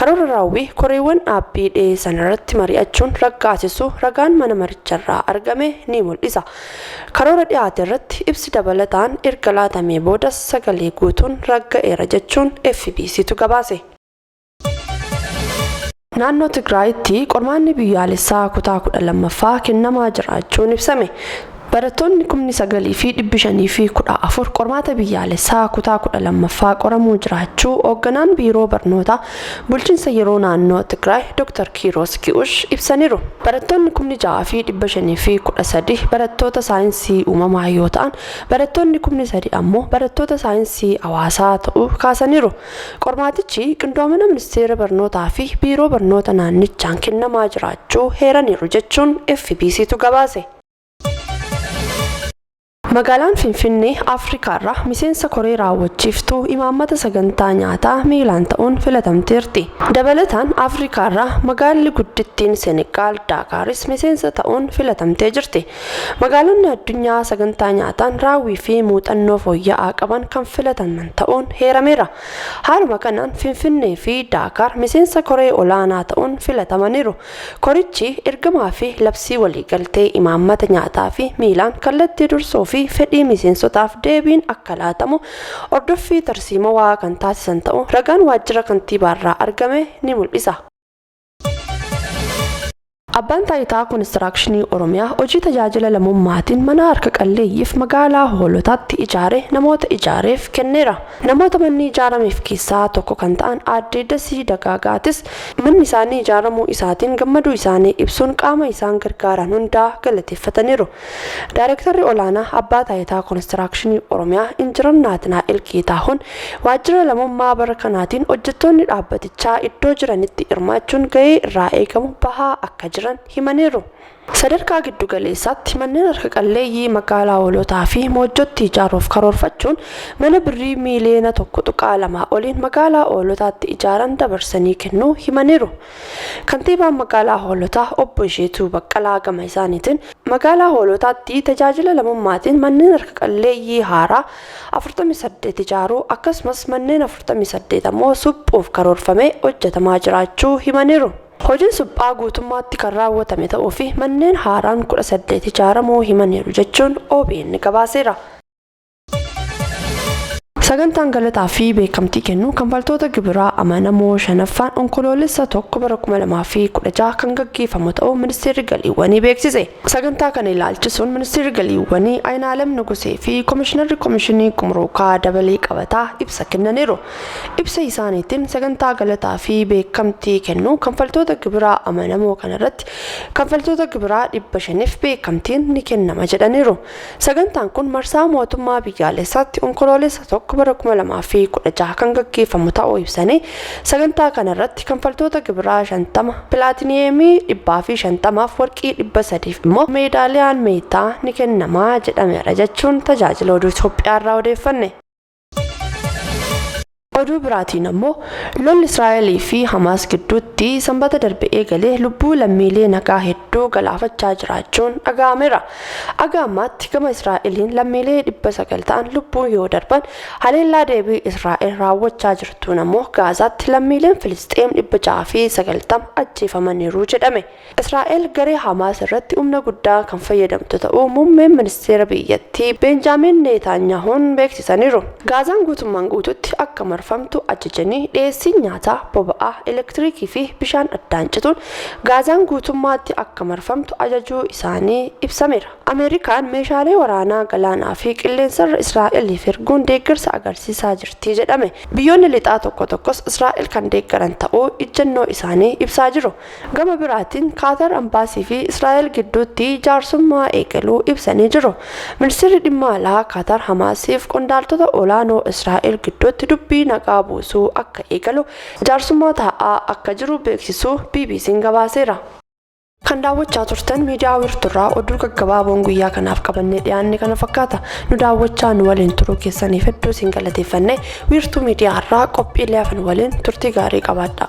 Karoora raawwii koreewwan dhaabbii dhiyeessan irratti mari'achuun raggaasisuu ragaan mana maricharraa argame ni mul'isa. Karoora dhiyaate irratti ibsi dabalataan erga laatamee boodas sagalee guutuun ragga'eera jechuun FBCtu gabaase. Naannoo Tigraayitti qormaanni biyyaalessaa kutaa 12ffaa kennamaa jiraachuun ibsame. Barattoonni kumni 9 fi 514 qormaata biyyaalessaa kutaa 12ffaa qoramuu jiraachuu Hoogganaan Biiroo Barnootaa Bulchinsa Yeroo Naannoo Tigraay Dooktar Kiiroos Gi'ush ibsaniiru. Barattoonni kumni 6 fi 513 barattoota saayinsii uumamaa yoo ta'an, barattoonni kumni 3 ammoo barattoota saayinsii hawaasaa ta'uu kaasaniiru. Qormaatichi qindoomina Ministeera Barnootaa fi Biiroo Barnoota Naannichaan kennamaa jiraachuu heeraniiru jechuun FBCtu gabaase. Magaalaan Finfinnee Afrikaarraa miseensa koree raawwachiiftuu imaammata sagantaa nyaataa miilaan ta'uun filatamteerti. Dabalataan Afrikaarraa magaalli guddittiin Senegaal Daakaaris miseensa ta'uun filatamtee jirti. Magaalonni addunyaa sagantaa nyaataan raawwii fi muuxannoo fooyya'aa qaban kan filataman ta'uun heerameera. Haaluma kanaan Finfinnee fi Daakaar miseensa koree olaanaa ta'uun filatamaniiru. Korichi ergamaa fi labsii waliigaltee imaammata nyaataa fi miilaan kallattii dursoo fi fedhii miseensotaaf deebiin akka laatamu hordoffii tarsiimawaa kan taasisan ta'uu ragaan waajjira kantiibaarraa argame ni mul'isa. Abbaan Taayitaa Konistiraakshinii Oromiyaa hojii tajaajila lamummaatiin mana harka qalleeyyiif magaalaa Hoolotaatti ijaare namoota ijaareef kenneera. Namoota manni ijaarameef keessaa tokko kan ta'an Aadde Dasii Dagaagaatis manni isaanii ijaaramuu isaatiin gammaduu isaanii ibsuun qaama isaan gargaaran hundaa galateeffataniiru. Daayrektarri Olaanaa Abbaa Taayitaa Konistiraakshinii Oromiyaa Injinar Naatinaa'el Geetaahuun waajjira lamummaa bara kanaatiin hojjettoonni dhaabbatichaa iddoo jiranitti hirmaachuun gahee irraa eegamu bahaa akka jiran himaniiru. Sadarkaa giddu galeessaatti manneen harka qalleeyyii magaalaa Hoolotaa fi Moojjootti ijaaruuf karoorfachuun mana Birrii miiliyoona 1.2 oliin magaalaa Hoolotaatti ijaaran dabarsanii kennuu himaniiru. Kantiibaan magaalaa Hoolotaa obbo Isheetuu Baqqalaa gama isaaniitiin, magaalaa Hoolotaatti tajaajila lamummaatiin manneen harka qalleeyyii haaraa 48 ijaaruu akkasumas manneen 48 ammoo suphuuf karoorfamee hojjetamaa jiraachuu himaniiru. Hojiin suphaa guutummaatti kan raawwatame ta'uu fi manneen haaraan 18 ijaaramuu himaniiru jechuun obn gabaaseera. Sagantaan galataa fi beekamtii kennuu kanfaltoota gibiraa amanamoo 5ffaan Onkoloolessa 1 bara 2016 kan gaggeeffamu ta'uu Ministeerri Galiiwwanii beeksise. Sagantaa kana ilaalchisuun Ministeerri Galiiwwanii Ayinaalem Nugusee fi Komishinarri Komishinii Gumuruukaa Dabalii Qabataa ibsa kennaniiru. Ibsa isaaniitiin, sagantaa galataa fi beekamtii kennuu kanfaltoota gibiraa amanamoo kana irratti kanfaltoota gibiraa 500f beekamtiin ni kennama jedhaniiru. Sagantaan kun marsaa mootummaa biyyaalessaatti Onkoloolessa 1 bara 2016 kan gaggeeffamu ta'uu ibsanii, sagantaa kana irratti kanfaltoota gibiraa 50 pilaatiniyeemii 150f warqii 300f immoo meedaaliyaan meetaa ni kennama jedhameera jechuun Tajaajila Oduu Itoophiyaarraa odeeffanne. Oduu biraatiin ammoo lolli Israa'elii fi Hamaas gidduutti sanbata darbe eegale lubbuu lammiilee nagaa hedduu galaafachaa jiraachuun dhaga'ameera. Aga ammaatti gama Israa'eliin lammiilee 900 ta'an lubbuu yoo darban haleellaa deebii Israa'el raawwachaa jirtuun ammoo Gaazaatti lammiileen Filisxeem 690 ajjeefamaniiru jedhame. Israa'el garee Hamaas irratti humna guddaa kan fayyadamtu ta'uu muummeen ministeera biyyattii Beenjaamiin Neetaanyaahuun beeksisaniiru. Gaazaan guutummaan guutuutti akka marfamtu ajajanii, dhiyeessiin nyaataa, boba'aa, elektiriikii fi bishaan addaan cituun Gaazaan guutummaatti akka marfamtu ajajuu isaanii ibsameera. Ameerikaan meeshaalee waraanaa galaanaa fi qilleensarra Israa'eliif erguun deeggarsa agarsiisaa jirti jedhame. Biyyoonni Lixaa tokko tokkos Israa'el kan deeggaran ta'uu ijjannoo isaanii ibsaa jiru. Gama biraatiin Kaatar Ambaasii fi Israa'el gidduutti jaarsummaa eegaluu ibsanii jiru. Ministirri Dhimma Alaa Kaatar Hamaasiif qondaaltota olaanoo Israa'el gidduutti dubbii nagaa buusuu akka eegalu jaarsummaa taa'aa akka jiru beeksisuu BBC'n gabaaseera. Kan daawwachaa turtan miidiyaa Wiirtuurraa oduu gaggabaaboon guyyaa kanaaf qabannee dhiyaanne kana fakkaata. Nu daawwachaa nu waliin turuu keessaniif hedduu isin galateeffanne. Wiirtuu miidiyaarraa qophiilee hafan waliin turtii gaarii qabaadhaa.